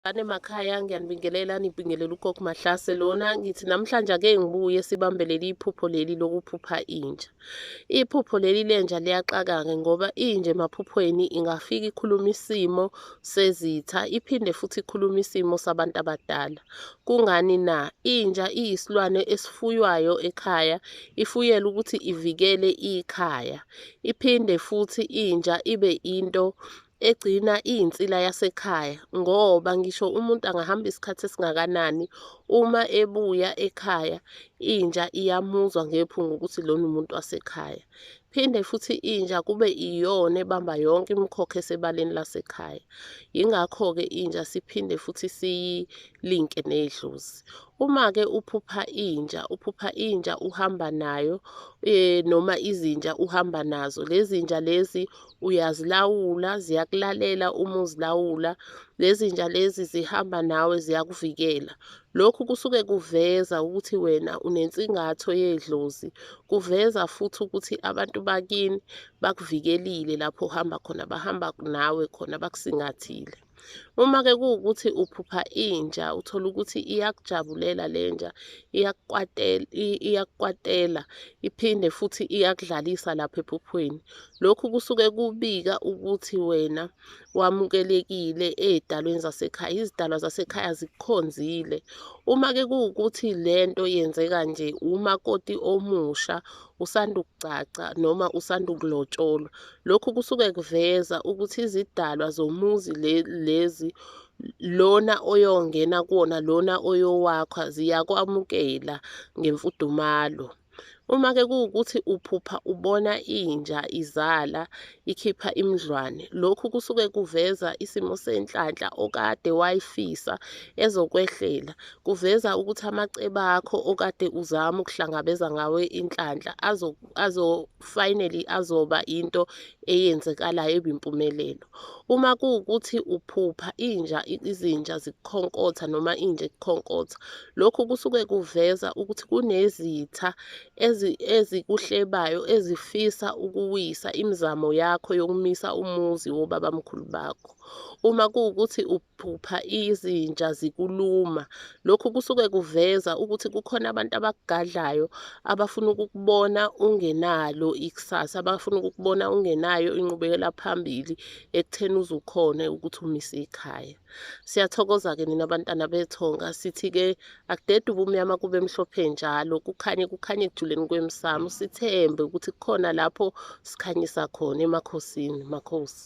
Bane makhaya ngiyanibingelela nibingelela ugogo Mahlase lona ngithi namhlanje ake ngibuye sibambe leli iphupho leli lokuphupha inja. Iphupho leli lenja liyaxakake ngoba inje emaphuphweni ingafika ikhuluma isimo sezitha iphinde futhi ikhuluma isimo sabantu abadala. Kungani na? Inja iyisilwane esifuywayo ekhaya ifuyela ukuthi ivikele ikhaya. Iphinde futhi inja ibe into egcina iyinsila yasekhaya ngoba ngisho umuntu angahamba isikhathi esingakanani uma ebuya ekhaya inja iyamuzwa ngephunga ukuthi lona umuntu wasekhaya. Phinde futhi inja kube iyona ebamba yonke imikhokha esebaleni lasekhaya. Yingakho-ke inja siphinde futhi siyilinke nedlozi. Uma-ke uphupha inja, uphupha inja uhamba nayo eh, noma izinja uhamba nazo. Lezi nja lezi uyazilawula ziyakulalela uma uzilawula lezinja lezi zihamba nawe ziyakuvikela lokhu kusuke kuveza ukuthi wena unensingatho yedlozi kuveza futhi ukuthi abantu bakini bakuvikelile lapho uhamba khona bahamba nawe khona bakusingathile Uma-ke kuwukuthi uphupha inja, uthole ukuthi iyakujabulela le nja, iyakukwatela, iyakukwatela, iphinde futhi iyakudlalisa lapha ephuphweni. Lokhu kusuke kubika ukuthi wena wamukelekile ey'dalweni zasekhaya, izidalwa zasekhaya zikukhonzile. Uma-ke kuwukuthi le nto yenzeka nje umakoti omusha usanda ukugcagca noma usanda ukulotsholwa, Lokhu kusuke kuveza ukuthi izidalwa zomuzi lezi lona oyongena kuwona lona oyowakha ziyakwamukela ngemfudumalo. Uma-ke kuwukuthi uphupha ubona inja izala ikhipha imidlwane, lokhu kusuke kuveza isimo senhlanhla okade wayifisa ezokwehlela. Kuveza ukuthi amacebo akho okade uzama ukuhlangabeza ngawo inhlanhla azo, azo finally azoba into eyenzekalayo ebimpumelelo uma kuwukuthi uphupha inja izinja zikukhonkotha noma inja ikukhonkotha lokhu kusuke kuveza ukuthi kunezitha ezikuhlebayo ezifisa ukuwisa imizamo yakho yokumisa umuzi wobabamkhulu bakho uma kuwukuthi phupha izinja zikuluma. Lokhu kusuke kuveza ukuthi kukhona abantu abakugadlayo abafuna ukukubona ungenalo ikusasa, abafuna ukukubona ungenayo inqubekela phambili ekutheni uzukhone ukuthi umise ikhaya. Siyathokoza-ke nina bantwana bethonga, sithi-ke akudede ubumnyama kube mhlophe njalo, kukhanye kukhanye ekujuleni kwemsamo, sithembe ukuthi kukhona lapho sikhanyisa khona emakhosini, makhosi.